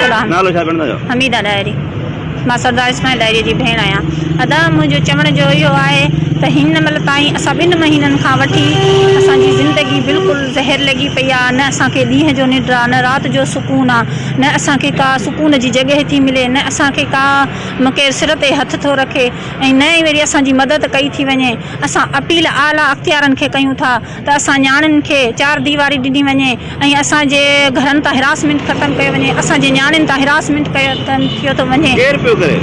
سلام حميده ڏاهري مان سردار اسماعيل ڏاهري جي ڀيڻ آهيان ادا منهنجو چوڻ جو اهو آهي ته هن مهل تائين اسان ٻن مهينن کان وٺي اسان جي زندگي بلڪل زهر لڳي پئي آهي نه اسان کي ڏينهن جو ننڊ آهي نه رات جو سڪون آهي نه اسان کي ڪا سڪون جي جڳهه ٿي ملي نه اسان کي ڪا نه ڪير سر تي هٿ ٿو رکي ۽ نه ئي وري اسان جي مدد ڪئي ٿي وڃي اسان اپيل اعليٰ اختيارن کي ڪيون ٿا ته اسان نياڻين کي چار ديواري ڏني وڃي ۽ اسان جي گهرن تان هراسمينٽ ختم ڪيو وڃي، اسان جي نياڻين تان هراسمينٽ ڪيو ٿو وڃي. ڪير پيو ڪري؟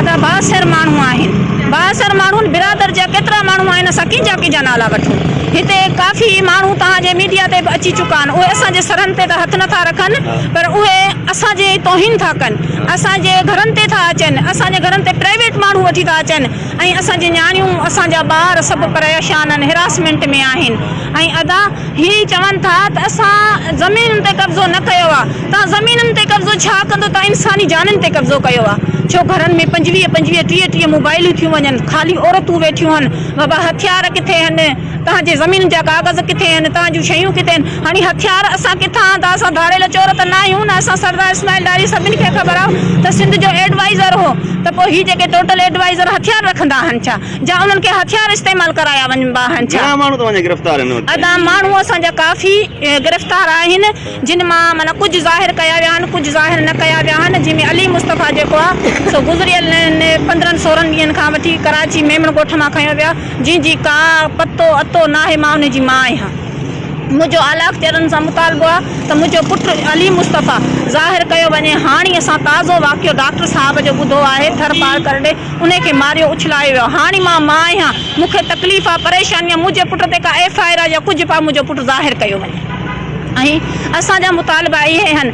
ادا بااثر ماڻهو آهن. بااثر ماڻهن برادر جا ڪيترا ماڻهو آهن اسان ڪنهنجا ڪنهنجا نالا وٺون. هتي ڪافي ماڻهو توهان جي ميڊيا تي به اچي چڪا آهن اهي اسان جي سرن تي ته هٿ نٿا رکن پر اهي اسان جي توهين ٿا ڪن اسان جي گهرن تي ٿا اچن اسان جي گهرن تي پرائيويٽ ماڻهو وٺي ٿا اچن ۽ اسان جي نياڻيون اسان جا ٻار سڀ پريشان ان هراسمينٽ ۾ آهن ۽ ادا هي چون ٿا ته اسان زمينن تي قبضو نه ڪيو آ توهان زمينن تي قبضو ڇا ڪندو توهان انساني جانن تي قبضو ڪيو آ ڇو گهرن ۾ پنجويهه پنجويهه ٽيهه ٽيهه موبائلون ٿيون وڃن خالي عورتون ويٺيون هن بابا هٿيار ڪٿي هن توهان جي زمين جا ڪاغذ ڪٿي آهن؟ توهان جون شيون ڪٿي آهن؟ هڻي هٿيار اسان ڪٿان آندا؟ اسان ڌاڙيل چور ته نه آهيون نه اسان سردار اسماعيل ڏاهري سڀن کي خبر آهو ته سنڌ جو ايڊوائيزر هو ته پوء هي جيڪي ٽوٽل ايڊوائيزر هٿيار رکندا آهن ڇا جا انهن کي هٿيار استعمال ڪرايا وڃبا آهن ڇا؟ گهڻا ماڻهو توهان جا گرفتار آهن هتي؟ ادا ماڻهو اسان جا ڪافي گرفتار آهن جن مان معنيٰ ڪجهه ظاهر ڪيا ويا آهن ڪجهه ظاهر نه ڪيا ويا آهن جن ۾ علي مصطفيٰ جيڪو آهي سو گذريل پندرهن سورهن ڏينهن کان وٺي ڪراچي ميمڻ ڳوٺ مان کنيو ويا جنهن جي ڪا پتو اتو ناهي مان ان جي ماء آهيان منهنجو اعليٰ اختيارن سان مطالبو آهي ته منهنجو پٽ عليم مصطفيٰ ظاهر ڪيو وڃي هاڻي اسان تازو واقعو ڊاڪٽر صاحب جو ٻڌو آهي ٿر پار ڪرڙي انهي کي ماريو اڇلايو ويو هاڻي مان ماء آهيان مون کي تڪليف آهي پريشاني آهي منهنجي پٽ تي ڪا ايف آئر آهي يا ڪجهه به آهي منهنجو پٽ ظاهر ڪيو وڃي ۽ اسان جا مطالبا اهي آهن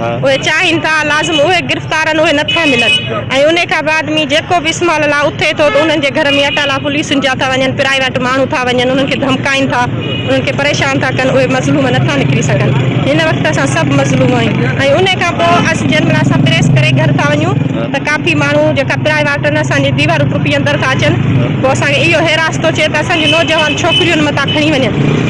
اهي چاهين ٿا لازم اهي گرفتارن اهي نه ٿا ملن ۽ انهي کان بعد ۾ جيڪو به اسمال لا اٿي ٿو ته انهن جي گهر ۾ اٽالا پوليسن جا ٿا وڃن پرائيويٽ ماڻهو ٿا وڃن انهن کي ڌمڪائين ٿا انهن کي پريشان ٿا ڪن اهي مظلوم نه ٿا نڪري سگهن هن وقت اسان سڀ مظلوم آهيون ۽ انهي کان پوء اسين جنهن مهل اسان پريس ڪري گهر ٿا وڃون ته ڪافي ماڻهو جيڪا پرائيواٽن اسان جي ديوارون ٽپي اندر ٿا اچن پوء اسان کي اهو هيراس ٿو چئي ته اسان جون نوجوان ڇوڪريون متان کڻي وڃن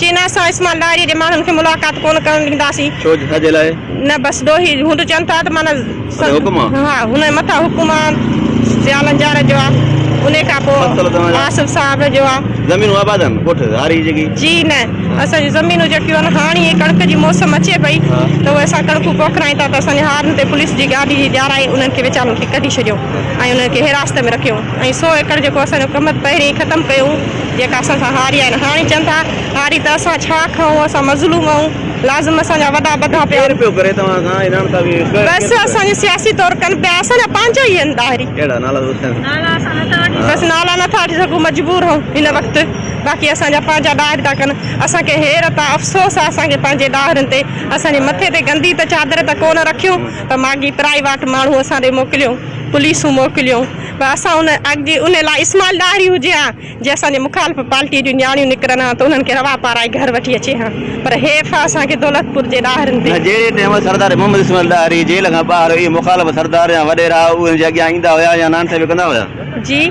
چين اسان اسماعيل ڏاهري جي ماڻهن کي ملاقات ڪونه ڪرڻ ڏينداسين. ڇو ڇا جي لاء؟ نه بس ڏوهي هون ته چون ٿا ته معنيٰ سنڌ هڪ حڪم آ. ها هن مٿان حڪم آ سيالن جار جو آ انهي کان پو فصل توهان جا. آصف صاحب جو آ. زمينون آباد آهن ڳوٺ هاري جي ڪي. جي نه اسان جون زمينون جيڪيون آهن هاڻي هي ڪڻڪ جي موسم اچي پئي ها. ته اهي اسان ڪڻڪون پوکرائين ٿا ته اسان جي هارن تي پوليس جي گاڏي جي ڄارائي انهن کي ويچارن کي ڪڍي ڇڏيو ۽ انهن کي حراست ۾ رکيو ۽ سو ايڪڙ جيڪو اسان جو ڪمت پهرين ئي ختم ڪيو هو جيڪا اسان سان هاري آهن هاڻي چون ٿا هاري ته اسان ڇا کئون اسان مظلوم آهيون لازم اسان جا وڏا ٻڌا پيا ڪير پيو ڪري توهان کان ايران تان به بس اسان جو سياسي طور ڪن پيا اسان جا پنهنجا ئي آهن ڏاهري ڪهڙا نالا ٻڌايون نالا اسان نه ٿا وٺي بس نالا نه ٿا وٺي سگهون مجبور آهيون هن وقت باقي اسان جا پنهنجا ڏاهر ٿا ڪن اسان کي حيرت آهي افسوس آهي اسان کي پنهنجي ڏاهرن تي اسان جي مٿي تي گندي ته چادر ته ڪونه رکيون پر ماڳهين پرائي واٽ ماڻهون اسان ڏي موڪليون پوليسون موڪليون پر اسان ان اڳ جي ان لاء اسماعيل ڏاهري هجي ها جي اسان جي مخالف پارٽيء جون نياڻيون نڪرن ها ته انهن کي روا پارائي گهر وٺي اچي ها پر حيف ها اسان کي دولتپور جي ڏاهرين تي جهڙي ٽيم سردار محمد اسماعيل ڏاهري جيل کان ٻاهر هئي مخالف سردار يا وڏيرا اهي هن جي اڳيان ايندا هيا يا نانٺ به ڪندا هيا. جي.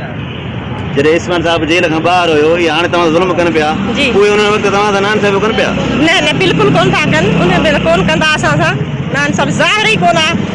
جڏهن اسماعيل صاحب جيل کان ٻاهر هيو اهي هاڻي توهان سان ظلم ڪن پيا جي. اهي انهن وقت توهان سان نانٺ به ڪن پيا. نه نه بلڪل ڪونه ٿا ڪن انهن ڀيرا ڪونه ڪندا اسان سان نانٺ ظاهر ئي ڪونه ها.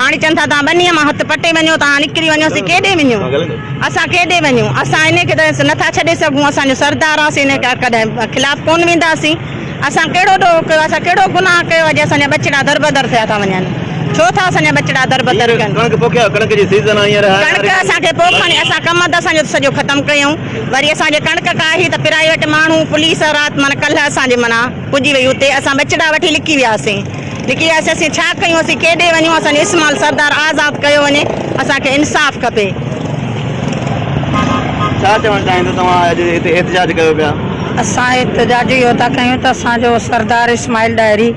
هاڻي چون ٿا توهان ٻنيء مان هٿ پٽي وڃو، توهان نڪري وڃو، سي ڪيڏي وڃو؟ اسان ڪيڏي وڃون؟ اسان هن کي ته نٿا ڇڏي سگهون، اسان جو سردار آهي، اسين هن ڪڏهن خلاف ڪونه وينداسين، اسان ڪهڙو ڏوهه ڪيو آهي، اسان ڪهڙو گناهه ڪيو آهي جو اسان جا ٻچڙا دربدر ٿيا ٿا وڃن، ڇو ٿا اسان جا ٻچڙا دربدر ڪن؟ ڪڻڪ پوکيا، ڪڻڪ جي سيزن آهي هينئر. ڪڻڪ اسان کي پوکڻي، اسان ڪم هنڌ اسان جو سڄو ختم ڪيئون، وري اسان جي ڪڻڪ ڪاهي ته پرائيويٽ ماڻهو، پوليس رات معنيٰ ڪلهه اسان جي معنيٰ پڄي وئي اتي، اسان ٻچڙا وٺي لڪي وياسين. لکي وياسين اسين ڇا ڪيون اسين ڪيڏي وڃون اسان جو اسمال سردار آزاد ڪيو وڃي اسان کي انصاف کپي. ڇا چوڻ چاهيندو توهان اڄ هتي احتجاج ڪيو پيا. اسان احتجاج اهو ٿا ڪيون ته اسان جو سردار اسماعيل ڏاهري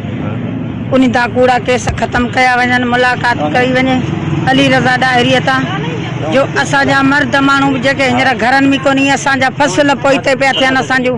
ان تان ڪوڙا ڪيس ختم ڪيا وڃن ملاقات ڪئي وڃي علي رضا ڏاهري تان جو اسان جا مرد ماڻهو به جيڪي هينئر گهرن ۾ ڪونهي اسان جا فصل پوئتي پيا ٿين اسان جون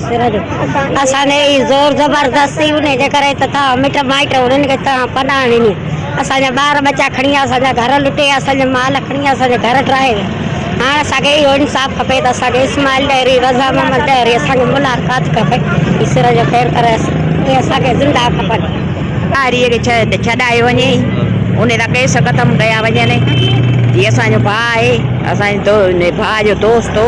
اسان تي اهڙي زور زبردستي هوندي جي ڪري ته تنهن مٽ مائٽ انهن کي تنهن پناهه ڏني. اسان جا ٻار ٻچا کڻي ويا، اسان جا گهر لٽي، اسان جي مال کڻي ويا، اسان جا گهر ڊاهي ويا. هاڻ اسان کي اهو انصاف کپي ته اسان کي اسماعيل ڏهري، رضا محمد ڏهري اسان کي ملاقات کپي. هي سر جو خير ڪري اهي اسان کي زنده کپن. ڏهري کي ڇڏايو وڃي انهي سان ڪيس ختم ڪيا وڃن. هي اسان جو ڀاء آهي، اسان جي ڀاء جو دوست هو.